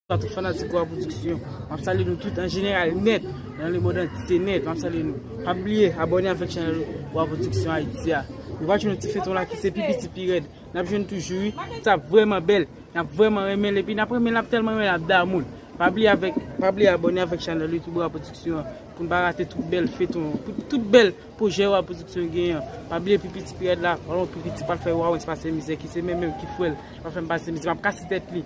Sa tout fanatik Gwa Production. Map salye nou tout an jeneral nèt. Nan le mond antye nèt. Map salye nou. Pa bliye abòne avèk chanèl Gwa Production Haïti a. Nou pral jwenn yon ti feyton la ki se pi piti pi rèd. Nap jwenn toujou wi. Sa ap vrèman bèl. Nap vrèman renmen l. Epi nap renmen l. Nap tèlman renmen l ap damou l. Pa bliye avèk pa bliye abòne avèk chanèl YouTube Gwa Production an. Pou n pa rate tout bèl feyton. Tout bèl pwojè Gwa Production genyen an. Pa bliye pi piti pi rèd la. Alon pi piti pral fè wawens pase mizè. Ki se menm menm ki fwèl. Pral fè m pase mizè. Map kase tèt li.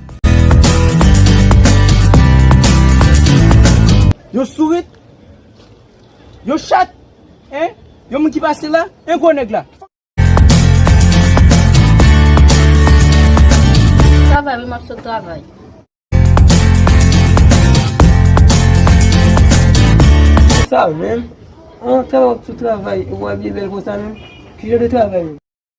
Yon sourit? Yon chat? Hein? Yon moun ki pase la? Hein gwo nèg la? Travay wi map sot travay. Sa menm? An travay wap sot travay e wap abiye bèl konsa menm? Ki jan de travay menm?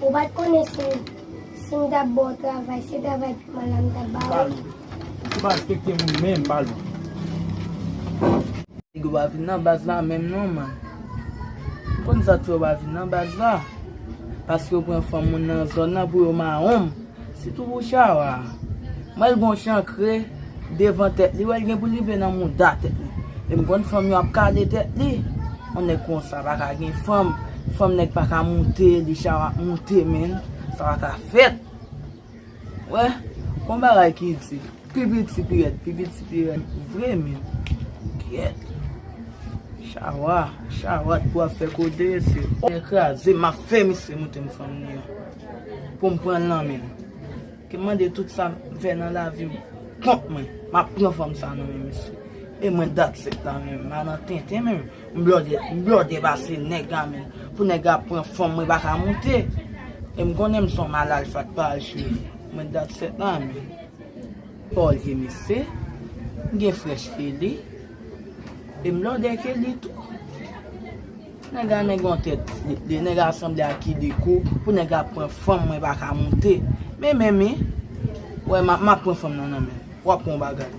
Ou pat konnen sim sim tap baw travay se travay piman la mtap ba ou. Balou. Ou ki pa respekte moun menm balou. Nèg yo pa vin nan baz la menm non man. Ou konn sa k fè yo pa vin nan baz la? Paske yo pran fanm moun nan zòn nan pou yo maronm. Sitou pou Chawa. Mwen wè l gen yon chankre devan tèt li. Ou wè l gen pou l rive nan mouda tèt li. E m konn fanm yo ap kale tèt li. Yon nèg konsa pa ka gen fanm. Fanm nèg pa ka moute li. Chawa ap moute menn. Sa pa ka fèt. Ou wè. Gon bagay ki di. Pi piti pi rèd. Pi piti pi rèd vre menn. Kyèt. Chawa. Chawa t pou ap fè koze mesye. Mwen kraze. M ap fè misye moute m fanm li an. pou m pran l nan men l. Ke m mande tout sa m fè nan lavi m kont mwen, m ap pran fanm sa nan men misye. E mwen dat sèt la menm, m pa nan tenten menm. M blòdè, m blòdè pase nèg la menm. Pou nèg la pran fanm mwen pa ka moute. E m konnen m se yon mal alfa k pa al cheri. Mwen dat sèt la menm. Olye mesye, m gen frèch ke li. E m blòdè ke li tou. Nèg la nèg an tèt de nèg a sanble ak ki de kou pou nèg la pran fanm mwen pa ka moute men men men wè map pran fanm nan nan men wap pran yon bagay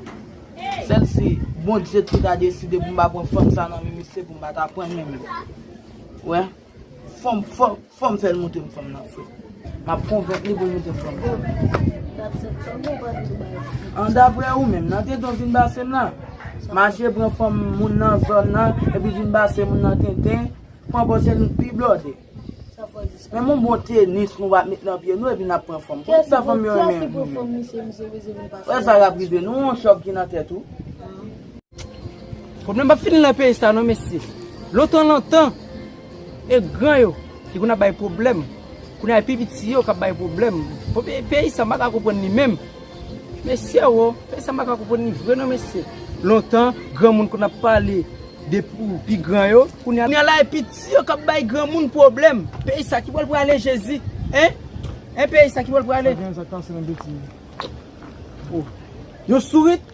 sèl si bondye ki ta deside pou m pa pran fanm sa nan men misye pou m pa ta pran l men men wè fòm fòm. Fòm fèl moute m fanm nan fre. Map konvenk li poul moute m fanm nan. An daprè ou menm nan tenten ou vin base m nan? Mache pran fanm moun nan zòn nan epi vin base moun nan tenten pran pòsè nou k pi blòde. Menm yon bon tenis nou pa met nan pye nou epi nap pran fanm. Kiyès sa fanm yo renmen. Wè sa kap rive nou yon chòv ki nan tèt ou. Pwoblèm pap fini nan peyi sa non mesye. Lontan lontan e gran yo te konn ap bay pwoblèm, kounye a e pi piti yo kap bay pwoblèm. Peyi sa m pa ka konprann li menm. Mesye wo, peyi sa m pa ka konprann li vre non mesye. Lontan granmoun konn ap pale de pi gran yo, kounye a la e piti yo kap bay granmoun pwoblèm. Peyi sa ki bò l prale jezi? Hein? Hein peyi sa ki bò l prale? Yon sourit?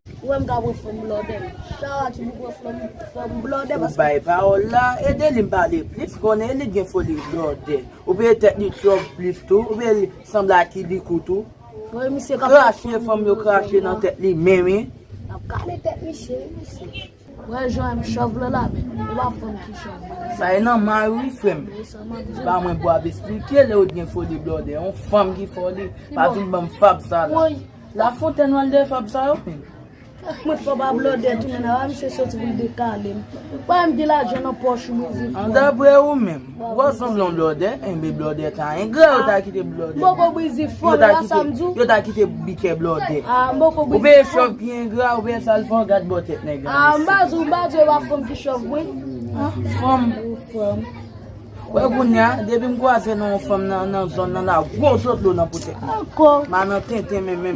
Ou menm ka pran fòm blòdè. Chawa ti bou pran fòm fòm blòdè paske. Ou bay pawòl la, Edeline pale plis, konnen Edeline gen foli blòdè. Ou peye tèt li twòp plis tou, ou peye li sanble ak Kibiko tou. Krache fòm yo krache nan tèt li men wi. Lap kale tèt misye wi misye. Wè jan m chòv lè la menm ou pa konn ki chòv mwen ye. Sa e nan may ou wi frem. Ba mwen pou ap esplike le ou t gen foli blòdè on fanm ki foli pa vin banm fab sa la. La fontèn wal dèyè fab sa yo menm. Mwen t konn pa blòdè tou men nan a misye soti pou l dekale m. Bay m ti lajan nan pòch m ouvri fòm. An daprè ou menm. Wap sanble yon blòdè, enben blòdè ta engra yo ta kite blòdè. Moko brizi fòl la sam di w. Yo ta kite bikè blòdè. Ou veye chòv ki engra, ou veye sal fò, gad bò tèt nèg la mesye. Mba di w, mba di w e pa fanm ki chòv mwen. Fanm. Wè kounya, depi m kwaze nan yon fanm nan zòn nan la gwo zotlo nan po tèt mwen. Ankò. Ma nan tenten men menm.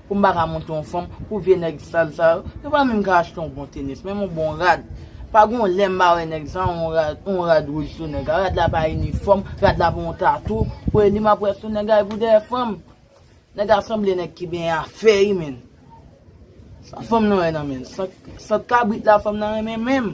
Pou m pa ka monte yon fanm, pou vye nèg sal sa yo, yo pa menm ka achte yon bon tenis, menm yon bon rad. Pa gen yon lè m pa wè nèg sa yon rad, yon rad wouj sou nèg la. Rad la pa inifòm, rad la pa yon tatou. Pou e li m ap wè sou nèg a, e pou dèyè fanm. Nèg a sanble nèg ki benyen a fè wi menn. Sa fanm nan wè nan men l? Sant kabrit la fanm nan renmen menm?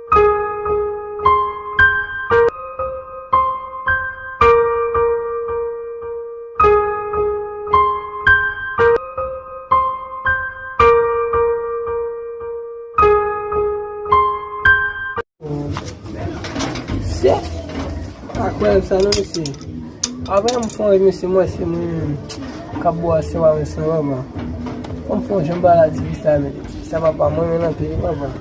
Avè m fò yon se mwen se mwen kap bo a se wè mwen se wè mwen. Fò m fò jen ba la ti visa mwen. Sa va pa mwen yon anpe yon wè mwen.